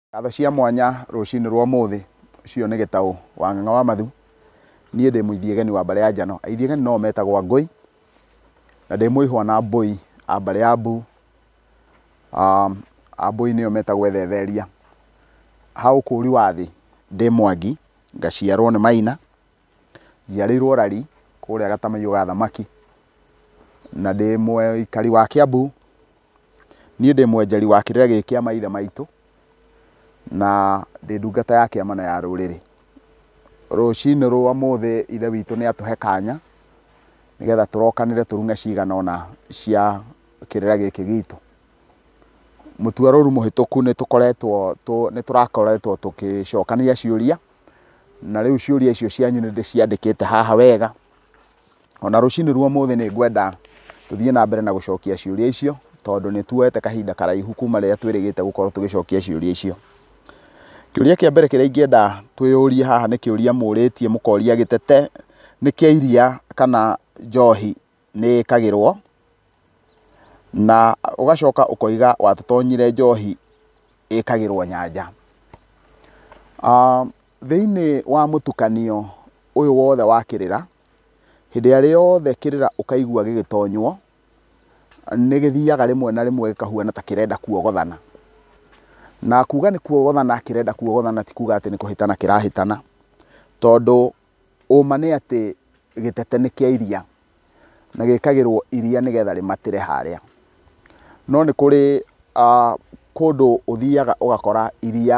Ngatho cia mwanya rũcinĩ rwa ũmũthĩ cio nĩ Gĩtaũ wa Ng'ang'a wa Mathu, niĩ ndĩ Mũithiegeni wa mbarĩ ya Njano, Aithiegeni no o metagwo Angũi, na ndĩ Mũihwa na Mbũi a mbarĩ ya Mbu, Ambũi nĩo metagwo Ethetheria. Ha ũkũũri wa thĩ ndĩ Mwangi, ngaciarwo nĩ Maina, Njiarĩirwo Rari kũrĩa gatamaiyo ga thamaki, na ndĩ mũikari wa Kĩambu. Niĩ ndĩ mwenjeri wa kĩrĩra gĩkĩ kĩa maithe maitũ, na ndĩ ndungata ya kĩama na ya rũrĩrĩ. Rũcinĩ rwa ũmũthĩ ithe witũ nĩ atũhe kanya, nĩgetha tũrokanĩre tũrume cigana ũna cia kĩrĩra gĩkĩ gitũ. Mũtwĩarũru mũhĩtũku nĩ tũkoretwo, nĩ tũrakoretwo tũgĩcokania ciũria. na rĩu ciũria icio cianyu nĩ ndĩciandĩkĩte haha wega ona rũcinĩ ruo mũthĩ nĩ ngwenda tũthiĩ na mbere na gũcokia ciũria icio tondũ nĩ tuoete kahinda karaihu kuma rĩrĩa twĩrĩgĩte gũkorwo tũgĩcokia ciũria icio kĩũria kĩa mbere kĩrĩa ingĩenda twĩyũrie haha nĩ kĩũria mũrĩtie mũkoria gĩtete nĩ kĩa iria kana njohi nĩ ĩkagĩrwo na ũgacoka ũkoiga watũtonyire njohi ĩkagĩrwo nyanja. Thĩinĩ wa mũtukanio ũyũ wothe wa kĩrĩra, hĩndĩ ĩrĩa yothe kĩrĩra ũkaigua gĩgĩtonywo, nĩ gĩthiaga rĩmwe na rĩmwe gĩkahuana ta kĩrenda kuogothana. Na kuuga nĩ kuogothana kĩrenda kuogothana ti kuuga atĩ nĩ kũhĩtana kĩrahĩtana, tondũ Ũũma nĩ atĩ gĩtete nĩ kĩa iria na gĩkagĩrwo iria nĩgetha rĩmatĩre harĩa. No nĩ kũrĩ kũndũ ũthiaga ũgakora iria,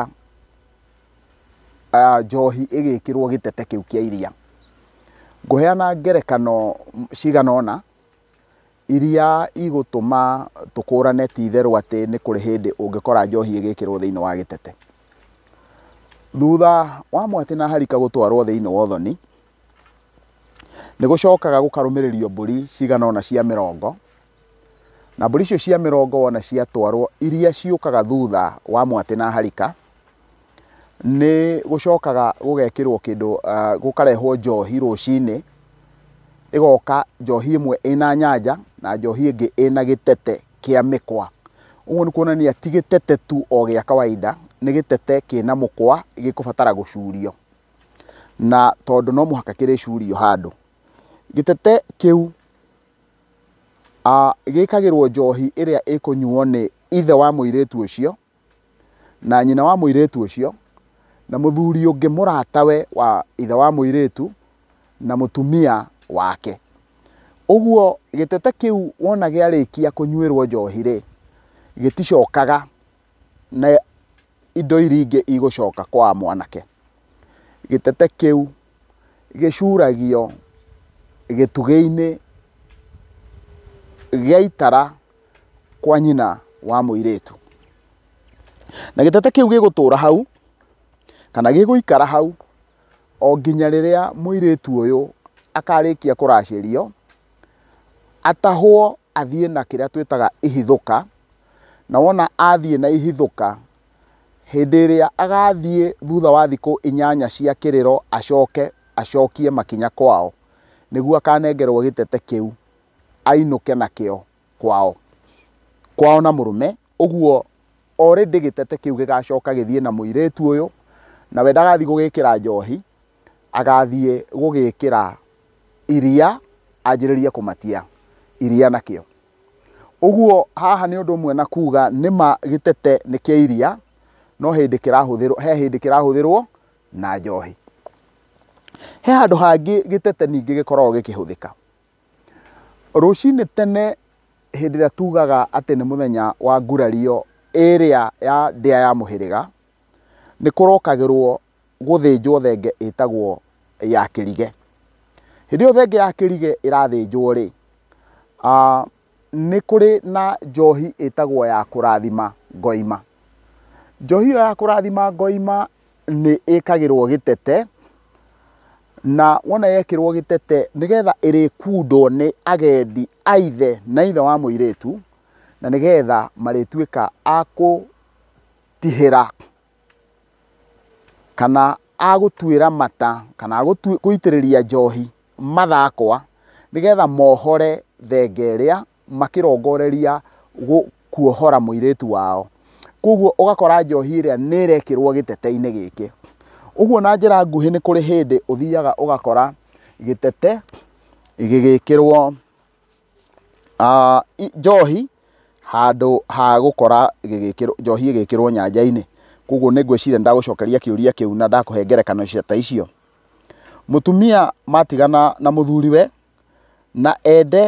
njohi ĩgĩkĩrwo gĩtete kĩu kĩa iria. Ngũheana ngerekano cigana ũna, Iria igũtũma tũkũrane ti itherũ atĩ nĩ kũrĩ hĩndĩ ũngĩkora njohi ĩgĩkĩrwo thĩinĩ wa gĩtete. Thutha wa mwatĩ na harika gũtwarwo thĩinĩ wa ũthoni, nĩ gũcokaga gũkarũmĩrĩrio mbũri cigana ũna cia mĩrongo, na mbũri icio cia mĩrongo wona ciatwarwo, iria ciũkaga thutha wa mwatĩ na harika, nĩ gũcokaga gũgekĩrwo kĩndũ, gũkarehwo njohi rũcinĩ, ĩgoka njohi ĩmwe ĩna nyanja na njohi ĩngĩ ĩna gĩtete kĩa mĩkwa. Ũguo nĩ kuonania ti gĩtete tu o gĩa kawaida, nĩ gĩtete kĩna mũkwa gĩkũbatara gũcurio. Na tondũ no mũhaka kĩrĩcurio handũ, gĩtete kĩu gĩkagĩrwo njohi ĩrĩa ĩkũnyuo nĩ ithe wa mũirĩtu ũcio, na nyina wa mũirĩtu ũcio, na mũthuri ũngĩ mũratawe wa ithe wa mũirĩtu, na mũtumia wake. Ũguo gĩtete kĩu wona gĩarĩkia kũnyuĩrwo njohi-rĩ, gĩticokaga na indo iria ingĩ igũcoka kwa mwanake. Gĩtete kĩu gĩcuragio gĩtugĩ-inĩ gĩa itara kwa nyina wa mũirĩtu. Na gĩtete kĩu gĩgũtũra hau kana gĩgũikara hau o nginya rĩrĩa mũirĩtu ũyũ akarĩkia kũracĩrio atahwo athiĩ na kĩrĩa twĩtaga ihithũka na wona athiĩ na ihithũka hĩndĩ ĩrĩa agathiĩ thutha wa thikũ inyanya cia kĩrĩro acoke acokie makinya kwao nĩguo akanengerwo gĩtete kĩu. ainũke nakĩo kwao kwao na mũrũme ũguo already gĩtete kĩu gĩgacoka gĩthiĩ na mũirĩtu ũyũ na we ndagathiĩ gũgĩkĩra njohi agathiĩ gũgĩkĩra iria anjĩrĩrie kũmatia iria nakĩo ũguo haha nĩ ũndũ ũmwe na kuga nĩma gĩtete nĩ kĩa iria no hĩndĩ kĩrahũthĩrwo he hĩndĩ kĩrahũthĩrwo na njohi he handũ hangĩ gĩtete ningĩ gĩkoragwo gĩkĩhũthĩka Rũcinĩ tene hĩndĩ ĩrĩa tugaga atĩ nĩ mũthenya wa ngurario ĩrĩa ya ndĩa ya mũhĩrĩga, nĩ kũrokagĩrwo gũthĩnjwo thenge ĩtagwo ya kĩrige. Hĩndĩ ĩyo thenge ya kĩrige ĩrathĩnjwo rĩ, nĩ kũrĩ na njohi ĩtagwo ya kũrathima ngoima. Njohi ĩyo ya kũrathima ngoima nĩ ĩkagĩrwo gĩtete, na wona yekĩrwo gĩtete nĩgetha ĩrĩkundwo nĩ agendi a ithe na ithe wa mũirĩtu, na nĩgetha marĩtuĩka a kũtihĩra. kana agũtuĩra mata kana agũitĩrĩria njohi mathakwa nĩgetha mohore thenge ĩrĩa makĩrongoreria kuohora mũirĩtu wao. Kwoguo ũgakora njohi ĩrĩa nĩ ĩrekĩrwo gĩtete-inĩ gĩkĩ. Ũguo na njĩra nguhĩ nĩ kũrĩ hĩndĩ ũthiaga ũgakora gĩtete gĩgĩkĩrwo... Njohi handũ ha gũkora gĩgĩkĩrwo, njohi ĩgĩkĩrwo nyanjainĩ, koguo nĩngwĩciria nĩndagũcokeria kĩũria kĩu na ndakũhe ngerekano ta icio. Mũtumia matigana na mũthuriwe na ende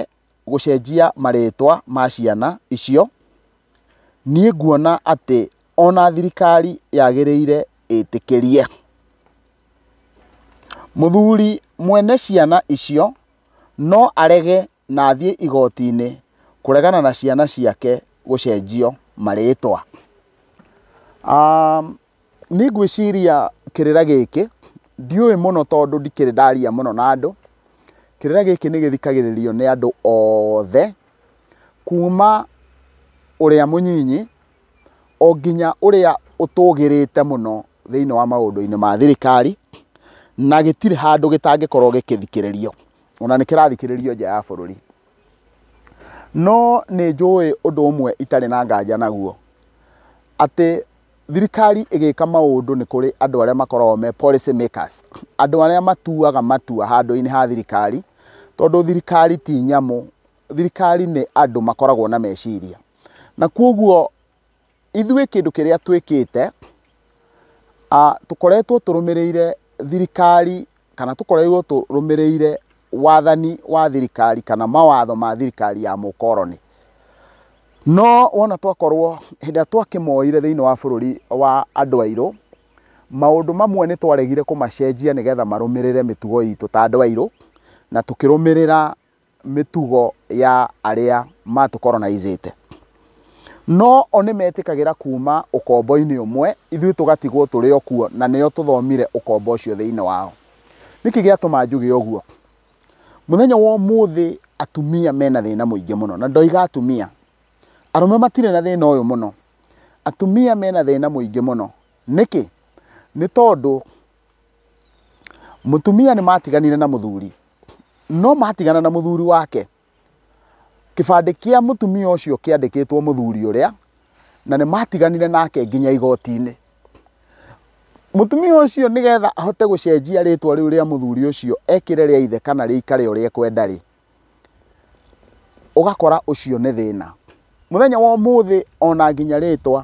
gũcenjia marĩtwa ma ciana icio, niĩ nguona atĩ ona thirikari yagĩrĩire ĩtĩkĩrie. Mũthuri mwene ciana icio. no arege na athiĩ igoti-inĩ kũregana na ciana ciake gũcenjio marĩtwa. Niĩ ngwĩciria kĩrĩra gĩkĩ ndiũĩ mũno tondũ ndikĩrĩ ndaria mũno na andũ, kĩrĩra gĩkĩ nĩ gĩthikagĩrĩrio nĩ andũ othe kuma ũrĩa mũnyinyi o nginya ũrĩa ũtũgĩrĩte mũno thĩinĩ wa maũndũ-inĩ ma thirikari, na gĩtirĩ handũ gĩtangĩkorwo gĩkĩthikĩrĩrio, ona nĩ kĩrathikĩrĩrio nja ya bũrũri. No nĩ njũĩ ũndũ ũmwe itarĩ na nganja naguo, atĩ thirikari ĩgĩka maũndũ nĩ kũrĩ andũ arĩa makoragwo me policy makers, andũ arĩa matuaga matua handũ-inĩ ha thirikari, tondũ thirikari ti nyamũ thirikari nĩ andũ makoragwo na meciria. Na kwoguo ithuĩ kĩndũ kĩrĩa twĩkĩte, tũkoretwo tũrũmĩrĩire thirikari kana tũkoreirwo tũrũmĩrĩire wathani wa thirikari kana mawatho ma thirikari ya mũkoroni. No wona twakorwo, hĩndĩ ĩrĩa twakĩmoire thĩiniĩ wa bũrũri wa andũ airũ, maũndũ mamwe nĩ twaregire kũmacenjia nĩgetha marũmĩrĩre mĩtugo itũ ta andũ airũ, na tũkĩrũmĩrĩra mĩtugo ya arĩa matũkoronaicĩte. No o nĩ metĩkagĩra kuuma ũkombo-inĩ ũmwe, ithuĩ tũgatigwo tũrĩ o kuo, na nĩo tũthomire ũkombo ũcio thĩinĩ wao. Nĩkĩ gĩatũma njuge ũguo? Mũthenya wa ũmũthĩ atumia mena thĩna mũingĩ mũno, na ndoiga atumia, arũme matirĩ na thĩna ũyũ mũno. Atumia mena thĩna mũingĩ mũno. Nĩkĩ? Nĩ tondũ Mũtumia nĩ matiganire na mũthuri, no matigana na mũthuri wake, kĩbandĩ kĩa mũtumia ũcio kĩandĩkĩtwo mũthuri ũrĩa, na nĩ matiganire nake nginya igoti-inĩ. Mũtumia ũcio nĩgetha ahote gũcenjia rĩtwa rĩu rĩa mũthuri ũcio ekĩre rĩa ithe kana rĩikare ũrĩa ekwenda-rĩ, ũgakora ũcio nĩ thĩna. Mũthenya wa ũmũthĩ ona nginya rĩtwa,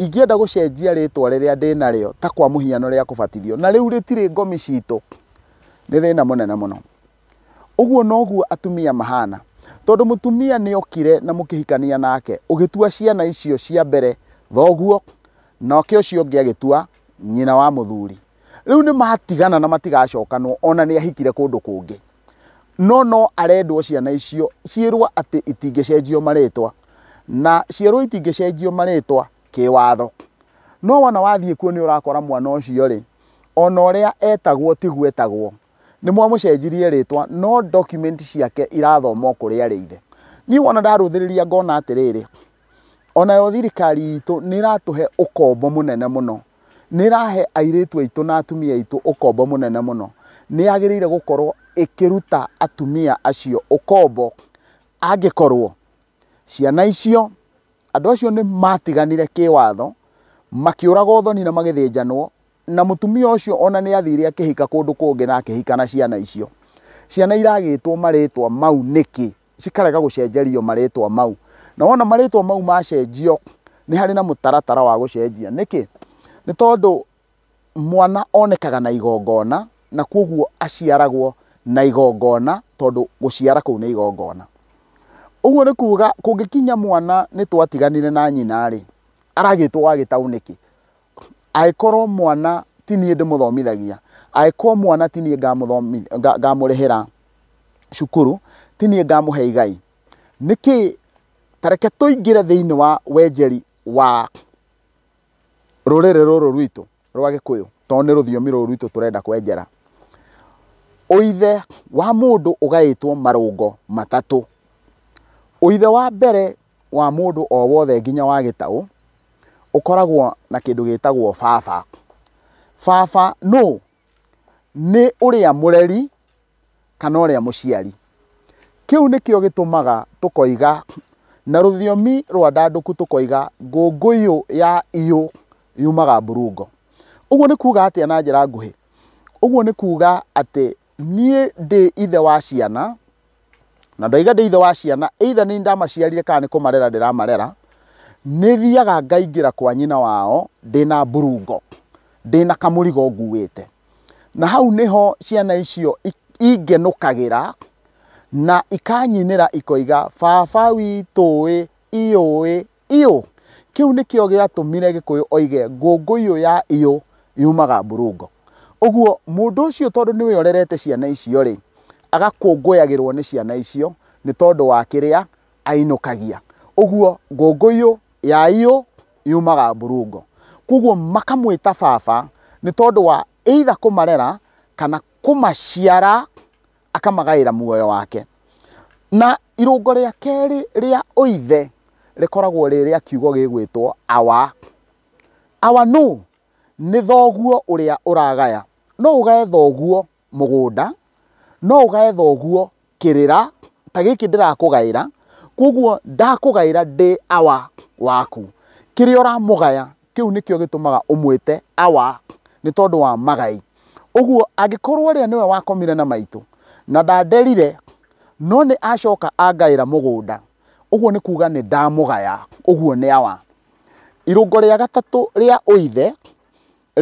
ingĩenda gũcenjia rĩtwa rĩrĩa ndĩnarĩo ta kwa mũhiano rĩa kũbatithio, na rĩu rĩtirĩ ngomi citũ, nĩ thĩna mũnene mũno. Ũguo noguo atumia mahana, tondũ mũtumia nĩ okire na mũkĩhikania nake, ũgĩtua ciana icio cia mbere thoguo, nake ũcio ũngĩ agĩtua nyina wa mũthuri. Rĩu nĩ matigana na matigacokanwo ona nĩ ahikire kũndũ kũngĩ. no no arendwo ciana icio ciĩrwo atĩ itingĩcenjio marĩtwa na ciĩrwo itingĩcenjio marĩtwa kĩwatho no wona wathiĩ kuo nĩ ũrakora mwana ũcio rĩ ona ũrĩa etagwo tiguo etagwo nĩ mwamũcenjirie rĩtwa no document ciake irathoma o kũrĩa arĩ ithe niĩ wona ndarũthĩrĩria ngona atĩrĩrĩ O nayo thirikari itũ nĩ ĩratũhe ũkombo mũnene mũno. Nĩ ĩrahe airĩtu aitũ na atumia aitũ ũkombo mũnene mũno. Nĩ yagĩrĩire gũkorwo ĩkĩruta atumia acio ũkombo angĩkorwo ciana icio, andũ acio nĩ matiganire kĩwatho, makĩũragwo ũthoni na magĩthĩnjanwo, na mũtumia ũcio o na nĩ athire akĩhika kũndũ kũngĩ na akĩhika na ciana icio. Ciana iragĩtwo marĩtwa mau nĩkĩ? cikarega gũcenjerio marĩtwa mau. Na wona marĩtwa mau macenjio, nĩ harĩ na mũtaratara wa gũcenjia. Nĩkĩ? Nĩ tondũ mwana onekaga na igongona, na kwoguo aciaragwo na igongona tondũ gũciara kũu nĩ igongona. Ũguo nĩ kuuga kũngĩkinya mwana nĩ twatiganire na nyina-rĩ, aragĩtwo wa gĩtaũ nĩkĩ? Angĩkorwo mwana ti niĩ ndĩmũthomithagia, angĩkorwo mwana ti niĩ ngamũrĩhĩra cukuru, ti niĩ ngamũhe igai, nĩkĩ, ta reke tũingĩre thĩinĩ wa wenjeri wa rũrĩrĩ rũrũ rwitũ rwa gĩkũyũ, tondũ nĩ rũthiomi rũrũ rwitũ tũrenda kwenjera. Ũithe wa mũndũ ũgaĩtwo marũngo matatũ. Ũithe wa mbere. wa mũndũ o wothe nginya wa gĩtaũ ũkoragwo na kĩndũ gĩtagwo baba. Baba nũ? Nĩ ũrĩa mũreri kana ũrĩa mũciari. Kĩu nĩkĩo gĩtũmaga tũkoiga na rũthiomi rwa ndandũku tũkoiga ngũngũyũ ya iyũ yumaga mburungo. Ũguo nĩ kuga atĩa na njĩra nguhĩ? Ũguo nĩ kuga atĩ Niĩ ndĩ ithe wa ciana, na ndoiga ndĩ ithe wa ciana, either nĩ niĩ ndamaciarire kana nĩ kũmarera ndĩramarera, nĩ thiaga ngaingĩra kwa nyina wao ndĩ na mburungo, ndĩ na kamũrigo nguĩte. Na hau nĩho ciana icio ingenũkagĩra na ikanyinĩra ikoiga, baba witũ ĩ, ĩ ũĩ, Iyũ. Kĩu nĩkĩo gĩatũmire Gĩkũyũ oige ngũngũ iyũ ya iyũ yumaga Mburungo. Ũguo, mũndũ ũcio tondũ nĩwe ũrerete ciana icio-rĩ, agakũngũyagĩrũo nĩ ciana icio nĩ tondũ wa kĩrĩa ainũkagia. Ũguo, ngũngũ iyũ ya iyũ yumaga Mburungo. Kwoguo makamwĩta baba nĩ tondũ wa either kũmarera kana kũmaciara akamagaĩra muoyo wake. Na irũngo rĩa kerĩ rĩa ũithe rĩkoragwo rĩ rĩa kiugo gĩgwĩtwo awa. Awa nũ? Nĩ thoguo ũrĩa ũragaya. No ũgae thoguo mũgũnda, no ũgae thoguo kĩrĩra, ta gĩkĩ ndĩrakũgaĩra, kwoguo ndakũgaĩra ndĩ awa waku. Kĩrĩa ũramũgaya Kĩu nĩkĩo gĩtũmaga ũmwĩte Awa, nĩ tondũ wa magai. Ũguo, angĩkorũo ũrĩa nĩwe wakomire na maitũ, na ndanderire, no nĩ acoka angaĩra mũgũnda, ũguo nĩ kuuga nĩ ndamũgaya. Ũguo nĩ Awa. Irũngo rĩa gatatũ rĩa ũithe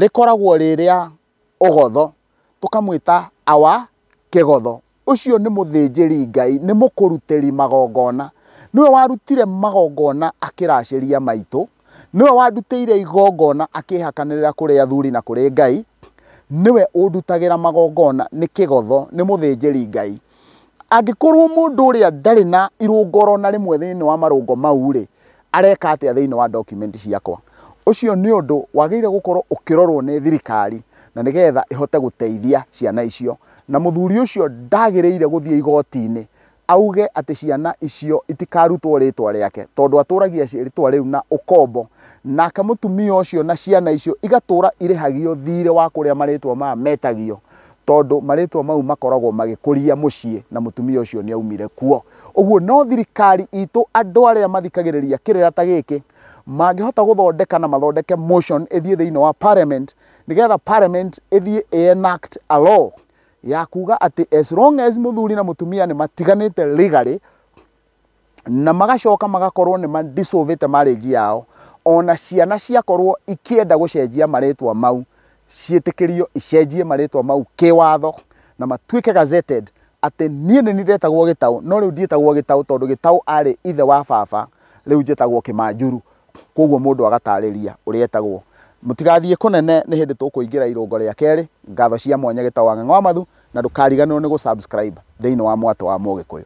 rĩkoragwo rĩ rĩa ũgotho, tũkamwĩta Awa kĩgotho. Ũcio nĩ mũthĩnjĩri Ngai, nĩ mũkũrutĩri magongona. Nĩwe warutire magongona akĩracĩria maitũ, nĩwe wandutĩire igongona akĩhakanĩrĩra kũrĩ athuri na kũrĩ Ngai, nĩwe ũndutagĩra magongona, nĩ kĩgotho, nĩ mũthĩnjĩri Ngai. angĩkorwo mũndũ ũrĩa ndarĩ na irũngo oro na rĩmwe thĩinĩ wa marũngo mau-rĩ, areka atĩa thĩinĩ wa document ciakwa? Ũcio nĩ ũndũ wagĩrĩire gũkorwo ũkĩrorwo nĩ thirikari na nĩgetha ĩhote gũteithia ciana icio. Na mũthuri ũcio ndagĩrĩire gũthiĩ igoti-inĩ auge atĩ ciana icio itikarutwo rĩtwa rĩake, tondũ atũragia rĩtwa rĩu na ũkombo, nake mũtumia ũcio na ciana icio igatũra irĩhagio thirĩ wa kũrĩa marĩtwa maya metagio. tondũ marĩtwa mau makoragwo magĩkũria mũciĩ na mũtumia ũcio nĩ aumire kuo. Ũguo no thirikari itũ andũ arĩa mathikagĩrĩria kĩrĩra ta gĩkĩ mangĩhota gũthondeka na mathondeke motion ĩthiĩ thĩinĩ wa parliament nĩgetha parliament ĩthiĩ ĩ enact a law ya kuga atĩ as long as mũthuri na mũtumia nĩ matiganĩte legally, na magacoka magakorwo nĩ madissolvĩte marriage yao ona ciana ciakorwo ikĩenda gũcenjia marĩtwa mau ciĩtĩkĩrio icenjie marĩtwa mau kĩwatho na matuĩke gazetted atĩ niĩ nĩ ndetagwo gĩtaũ no rĩu ndiĩtagwo gĩtaũ tondũ gĩtaũ arĩ ithe wa baba rĩu njĩtagwo kĩmanjuru koguo mũndũ agatarĩria ũrĩa etagwo mũtigathiĩ kũnene nĩ hĩndĩ tũkũingĩra irũngo rĩa kerĩ ngatho cia mwanya gĩtaũ wa ng'ang'a wa mathu na ndũkariganĩrwo nĩ gũ subscribe thĩinĩ wa mwatũ wa mũgĩkũyũ